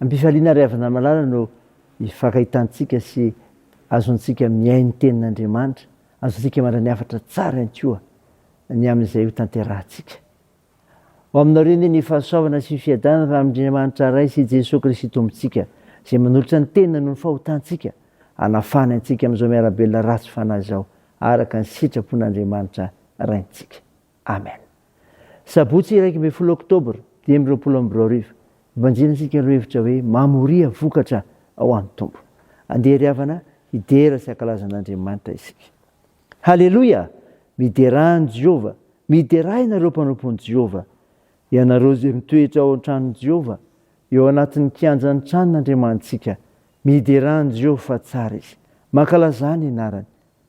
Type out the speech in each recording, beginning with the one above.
Am-pifaliana ary havanamalala no ifankahitantsika sy azontsika mihaino ny Tenin'Andriamanitra, azontsika mandray ny hafatra tsara ihany koa ny amin'izay hotanterahantsika. Ho aminao re anie ny fahasoavana sy ny fiadanana avy amin'Andriamanitra Ray sy Jesoa Kristy Tompontsika, izay manolotra ny teniny noho ny fahotantsika, hanafahany antsika amin'izao miara-belona ratsy fanahy izao, araka ny sitrapon'Andriamanitra Raintsika. Amen. Sabotsy iraika ambin'ny folo oktobra dimy amby roapolo amby roa arivo, Evanjely antsika no hevitra hoe mamoria vokatra ao amin'ny Tompo. Andeha ry havana hidera sy hankalaza an'Andriamanitra isika. Haleloia! Miderà an'i Jehovah. Miderà ianareo mpanompo an'i Jehovah. Ianareo izay mitoetra ao an-tranon'i Jehovah, eo anatin'ny kianjan'ny tranon'Andriamanitsika. Miderà an'i Jehovah fa tsara izy. Mankalazà ny anarany.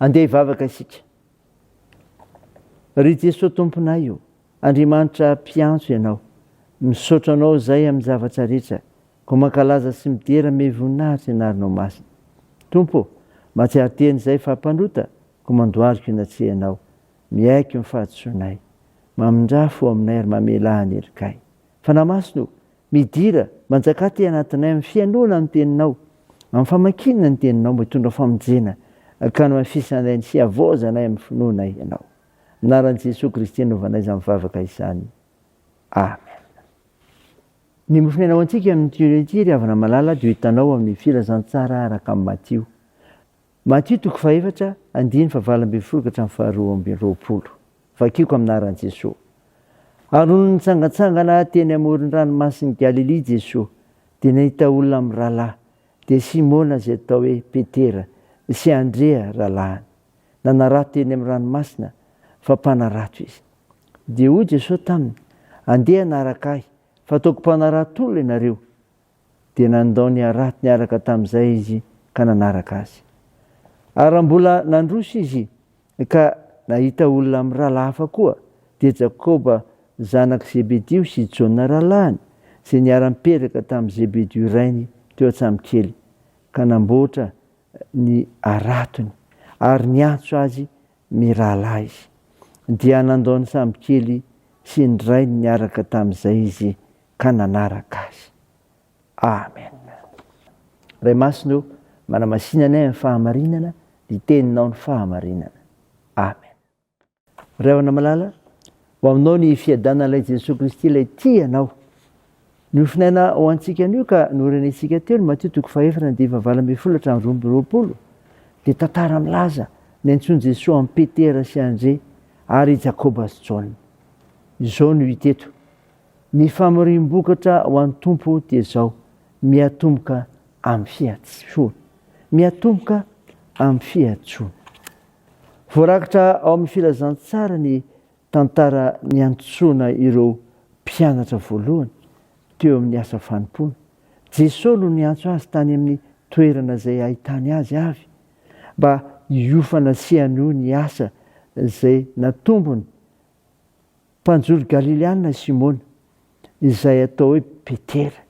Andeha hivavaka isika. Ry Jesoa Tomponay o, Andriamanitra mpiantso Ianao, misaotra Anao izay amin'ny zavatra rehetra, koa mankalaza sy midera me voninahitra ny Anaranao Masina. Tompo o, mahatsiaro tena izay fa mpanota koa mandohalika eny an-tsehanao, miaiky ny fahadisoanay. Mamindrà fo aminay ary mamelà ny helonkay. Fanahy Masina o, Midira, manjaka aty anatinay amin'ny fihainoana ny Teninao, amin'ny famakiana ny Teninao mba hitondra famonjena ka hamafisanay ny sy havaozanay amin'ny finoana Ianao. Amin'ny anaran'i Jesoa Kristy anaovanay izany vavaka izany. Amen. Ny mofon'aina ho antsika amin'ity ora ity, ry havana malala, dia ho hitanao amin'ny Filazantsara araka an'i Matio. Matio toko fahefatra, andininy fahavalo ambin'ny folo ka hatramin'ny faharoa amby roapolo. Vakiko amin'ny anaran'i Jesoa. Ary nony nitsangantsangana teny amoron-dranomasin'i Galilia Jesoa, dia nahita olona mirahalahy, dia Simona izay atao hoe Petera, sy Andrea rahalahiny. Nanarato teny amin'ny ranomasina, fa mpanarato izy. Dia hoy Jesoa taminy, Andeha hanaraka Ahy, f'ataoko mpanarato olona ianareo. Dia nandao ny harato niaraka tamin'izay izy ka nanaraka azy. Ary raha mbola nandroso izy ka nahita olona mirahalahy hafa koa, dia Jakoba zanak'i Zebedio sy i Jaona rahalahiny, izay niara-nipetraka tamin'i Zebedio rainy teo an-tsambokely, ka namboatra ny haratony, ary niantso azy mirahalahy izy. Dia nandao ny sambokely sy ny rainy niaraka tamin'izay izy ka nanaraka azy. Amen. Ray masina o, manamasina anay amin'ny fahamarinana, ny teninao ny fahamarinana. Amen. Ray ona malala, ho aminao ny fiadanan'ilay Jesoa Kristy ilay tia anao. Nofinaina ho antsika anio ka norenentsika teo ny Matio toko fahefana dia vavala ambin'ny folo hatramin'ny roa amby roapolo dia tantara milaza ny antsoin'i Jesoa amin'i Petera sy Andre ary i Jakoba sy Jaona. Izao no hita eto. Ny famoriam-bokatra ho an'ny Tompo dia izao, miatomboka amin'ny fihatsoana. Miatomboka amin'ny fihatsoana. Voarakitra ao amin'ny Filazantsara ny tantara niantsoana ireo mpianatra voalohany teo amin'ny asa fanompoana. Jesoa no niantso azy tany amin'ny toerana izay ahitany azy avy mba hiofana sy hanohy ny asa izay natombony Mpanjono Galileana i Simona, izay atao hoe Petera,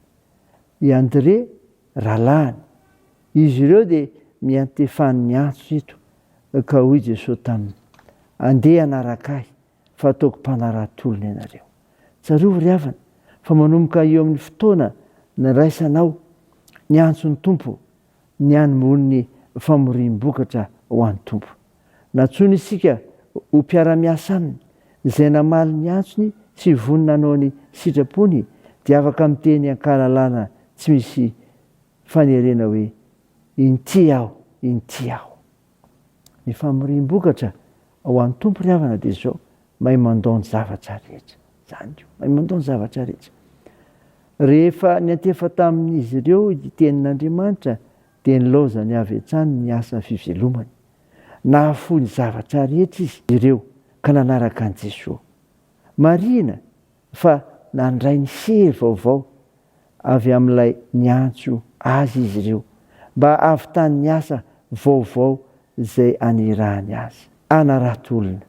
i André rahalahiny. Izy ireo dia niantefan'ny antso eto, ka hoy Jesosy taminy, Andeha hanaraka Ahy, fa hataoko mpanarato-olona ianareo. Tsarovy ry havana, fa manomboka eo amin'ny fotoana niraisanao ny antson'ny Tompo, ny hanombohan'ny famoriam-bokatra ho an'ny Tompo. Nantsoiny isika ho mpiara-miasa Aminy. Izay namaly ny antsony sy vonona hanao ny sitrapony dia afaka miteny an-kalalana tsy misy fanerena hoe, Inty aho, inty aho. Ny famoriam-bokatra ao an'ny Tompo ry havana dia izao, mahay mandao ny zavatra rehetra. Izany io, mahay mandao ny zavatra rehetra. Rehefa niantefa tamin'izy ireo ity tenin'Andriamanitra dia nilaozany avy hatrany ny asa fivelomany. Nahafoy ny zavatra rehetra izy ireo ka nanaraka an'i Jesoa. Marihina fa nandray ny hery vaovao avy amin'ilay niantso azy izy ireo mba hahavitany ny asa vaovao izay anirahany azy. Hanarato olona.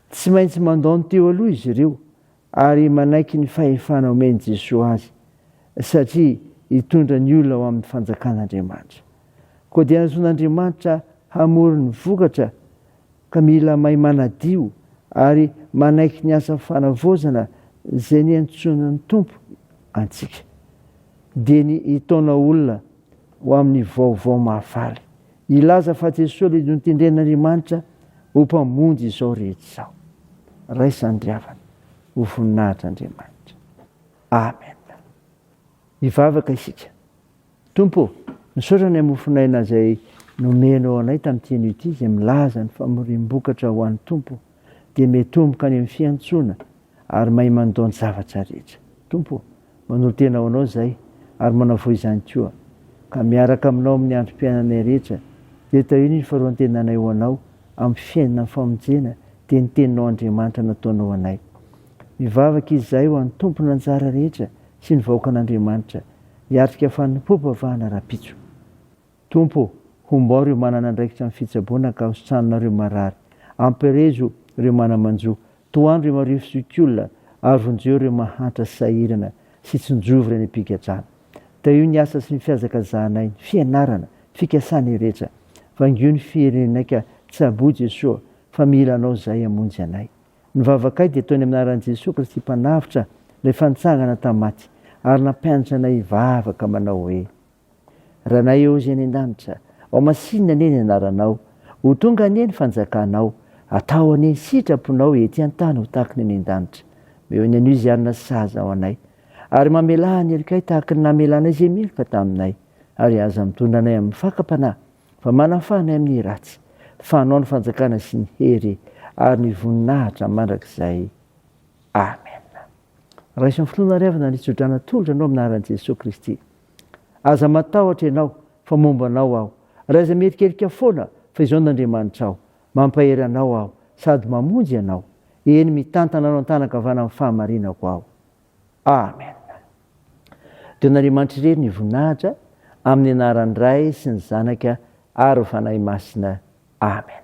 Tsy maintsy mandao ny teo aloha izy ireo ary manaiky ny fahefana omen'i Jesoa azy, satria hitondra ny olona ho amin'ny Fanjakan'Andriamanitra. Koa dia nahazoan'Andriamanitra hamory ny vokatra ka mila mahay manadio ary manaiky ny asa fanavaozana izay niantsoan'ny Tompo antsika. Dia ny hitaona olona ho amin'ny vaovao mahafaly, hilaza fa Jesoa ilay notendren'Andriamanitra ho Mpamonjy izao rehetra izao. Raisan'ny ry havana ho voninahitr' Andriamanitra. Amen. Hivavaka isika. Tompo ô, misaotra ny mofon'aina izay nomenao anay tamin'ity anio ity izay milaza ny famoriam-bokatra ho an'ny Tompo dia miatomboka any amin'ny fiantsoana ary mahay mandao ny zavatra rehetra. Tompo ô, manolo-tena ho Anao izahay ary manavoa izany koa ka miaraka aminao amin'ny androm-piainanay rehetra dia tahio ny faroan-tenanay ho Anao amin'ny fiainana amin'ny famonjena dia ny Teninao Andriamanitra nataonao anay. Mivavaka izahay ho an'ny Tompon'anjara rehetra sy ny vahoakan'Andriamanitra hiatrika fanompoam-pivavahana rahampitso. Tompo ô, hombao ireo manana andraikitra amin'ny fitsaboana ka hositranona ireo marary. Ampirezo ireo mana-manjo. Tohano ireo marivo sy okiolona ary vonjeo ireo mahantra sy sahirana sy tsinjovy ireny am-pigadrana. Tahio ny asa sy ny fihazakazahanay, ny fianarana, ny fikasanay rehetra. Vangio ny firenenay ka tsaboy Jesoa fa mila Anao izahay hamonjy anay. Ny vavakay dia toy ny amin'ny anaran'i Jesoa Kristy Mpanavotra, Ilay efa nitsangana tamin'ny maty, ary nampianatra anay hivavaka manao hoe, Ranay eo Izay any an-danitra, ao masinina anie ny anaranao, ho tonga anie ny fanjakanao, atao anie ny sitraponao ety an-tany ho tahaka ny any an-danitra. Meo ny anio izay hanana sazy ao anay, ary mamelà ny helokay tahaka ny namelanay izay meloka taminay, ary aza mitondra anay amin'ny fakam-panahy, fa manafana ny amin'ny ratsy, fa anao ny fanjakana sy ny hery ary ny voninahitra mandrakizay. Amena. Raiso amin'ny finoana ary avy na ny tso-drano atolotra anao amin'ny anaran'i Jesoa Kristy. Aza matahotra ianao fa momba anao aho, ary aza mierikerika foana fa izao n'Andriamanitra aho, mampahery anao aho sady mamonjy anao, eny mitantana anao an-tanan-kavanan'ny fahamarinako aho. Amen. Dia an'Andriamanitra irery ny voninahitra amin'ny anaran'ny Ray sy ny Zanaka ary ny Fanahy Masina. Amen.